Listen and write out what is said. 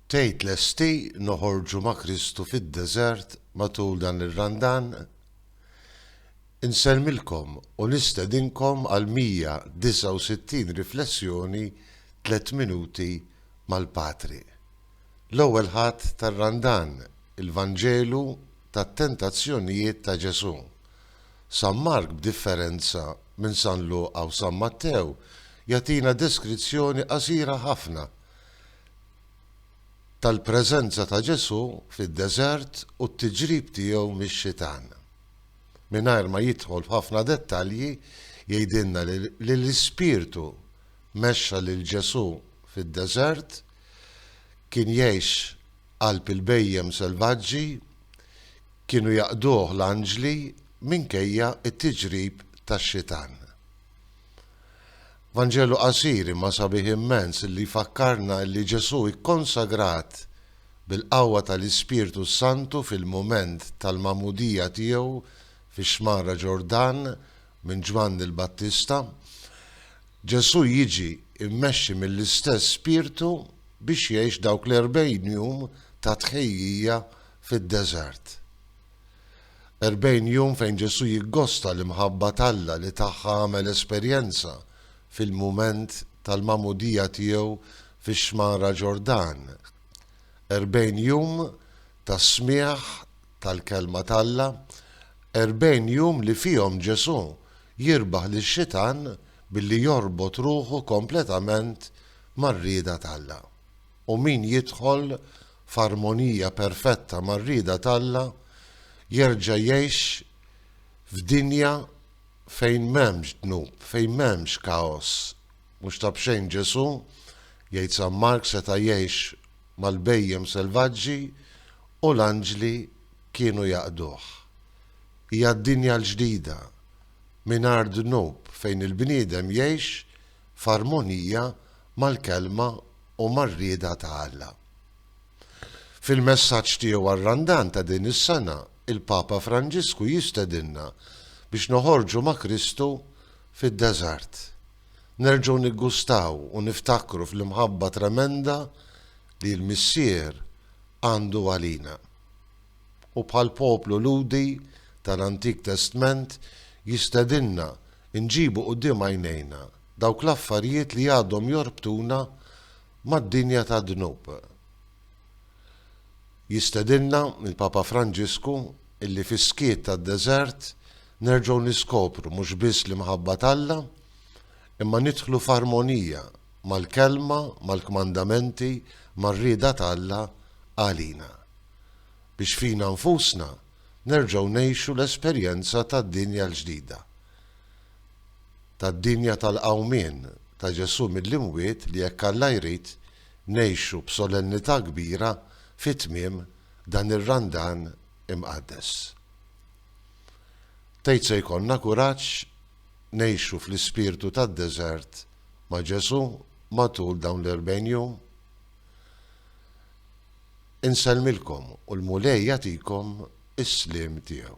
Tgħid lesti noħorġu ma' Kristu fid-deżert matul dan ir-Randan? Insellmilkom u nistedinkom għal 169 riflessjoni tliet minuti mal-Patri. L-ewwel Ħadd tar-Randan, il-Vanġelu tat-tentazzjonijiet ta' Ġesù. San Mark, b'differenza minn San Luqa u San Mattew, jagħtina deskrizzjoni qasira ħafna tal-preżenza ta' Ġesù fid-deżert u t-tiġrib tiegħu mix-Xitan. Mingħajr ma jidħol f'ħafna dettalji, jgħidilna li l-Ispirtu mexxa lil Ġesù fid-deżert, kien jgħix qalb il-bhejjem selvaġġi, Kienu jaqduh l-anġli minkejja t-tiġrib tax-xitan. Vanġelu qasir imma sabiħ immens li jfakkarna li Ġesù kkonsagrat bil-qawwa tal-Ispirtu s-Santu fil-mument tal-magħmudija tiegħu fix-xmara Ġordan minn Ġwanni l-Battista. Ġesù jiġi mmexxi mill-istess Spirtu biex jgħix dawk l-erbgħin jum ta' tħejjija fid-deżert. Erbgħin jum fejn Ġesù jiggosta l-imħabba t'Alla li tagħha għamel esperjenza fil-mument tal-magħmudija tiegħu fix-xmara Ġordan. Erbgħin jum ta' smigħ tal-Kelma t'Alla, erbgħin jum li fihom Ġesù jirbaħ lix-Xitan billi jorbot ruħu kompletament mar-rieda t'Alla. u min jidħol f'armonija perfetta mar-rieda t'Alla jerġa' jgħix f'dinja fejn m'hemmx dnub, fejn m'hemmx kaos. Mhux ta' b'xejn Ġesù, jgħid San Mark, seta' jgħix mal-bhejjem selvaġġi u l-anġli kienu jaqduh. Hija d-dinja l-ġdida, mingħajr dnub, fejn il-bniedem jgħix f'armonija mal-Kelma u mar-rieda ta' Alla. Fil-messaġġ tiegħu għar-Randan ta' din is-sena, il-Papa Franġisku jistedinna biex noħorġu ma' Kristu fid-deżert, nerġgħu niggustaw u niftakru fl-imħabba tremenda li l-Missier għandu għalina. u bħall-poplu Lhudi tal-Antik Testment jistedinna nġibu quddiem għajnejna dawk l-affarijiet li għadhom jorbtuna mad-dinja tad-dnub. Jistedinna l-Papa Franġisku illi fis-skiet tad-deżert nerġgħu niskopru mhux biss l-imħabba t'Alla imma nidħlu f'armonija mal-Kelma, mal-kmandamenti, mar-rieda t'Alla għalina. biex fina nfusna nerġgħu ngħixu l-esperjenza tad-dinja l-ġdida, tad-dinja tal-qawmien ta' Ġesù mill-imwiet li jekk Alla jrid ngħixu b'solennità kbira fi tmiem dan ir-Randan imqaddes. Tgħid se jkollna kuraġġ ngħixu fl-ispirtu tad-deżert ma' Ġesù matul dawn l-erbgħin jum? Insellmilkom u l-Mulej jagħtikom is-sliem tiegħu.